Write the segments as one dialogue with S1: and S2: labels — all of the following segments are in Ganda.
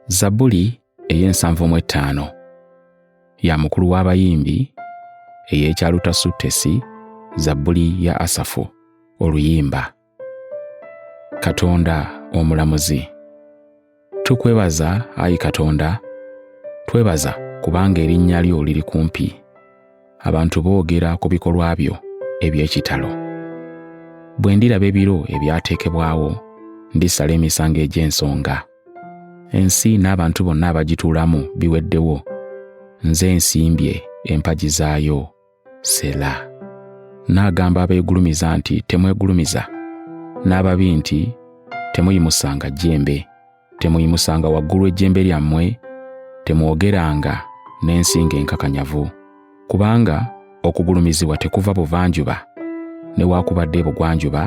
S1: zabbuli ey'ensanvu mu ettaano ya mukulu w'abayimbi ey'ekyalutasuttesi zabbuli ya asafu oluyimba katonda omulamuzi Tukwebaza, ayi Katonda, twebaza kubanga erinnya lyo liri kumpi. Abantu boogera ku bikolwa byo eby'ekitalo. Bwe ndiraba ebiro ebyateekebwawo, ndisala emisango egy'ensonga. Ensi n'abantu bonna abagituulamu biweddewo. Nze nsimbye empagi zaayo. sela n'agamba abeegulumiza nti temwegulumiza n'ababi nti temuyimusanga jjembe temuyimusanga waggulu ejjembe lyammwe temwogeranga n'ensinga enkakanyavu kubanga okugulumizibwa tekuva buvanjuba newakubadde ebugwanjuba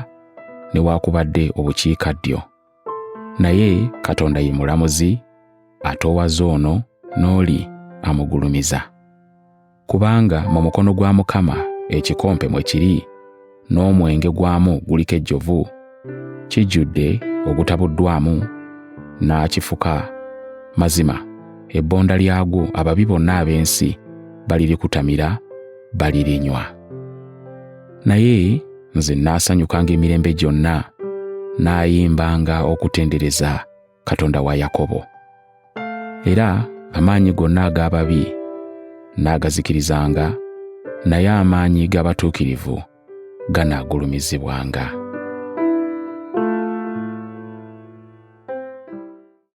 S1: newakubadde obukiikaddyo Naye Katonda ye mulamuzi, atoowaza ono n'oli amugulumiza. Kubanga mu mukono gwa Mukama ekikompe mwe kiri, n'omwenge gwamu guliko ejjovu, kijjudde ogutabuddwamu, n'akifuka mazima. Ebbonda lyagwo ababi bonna ab'ensi balirikutamira, balirinywa. Naye nze nnaasanyukanga emirembe gyonna n'ayimbanga okutendereza katonda wa yakobo era amaanyi gonna ag'ababi n'agazikirizanga naye amaanyi g'abatuukirivu ganaagulumizibwanga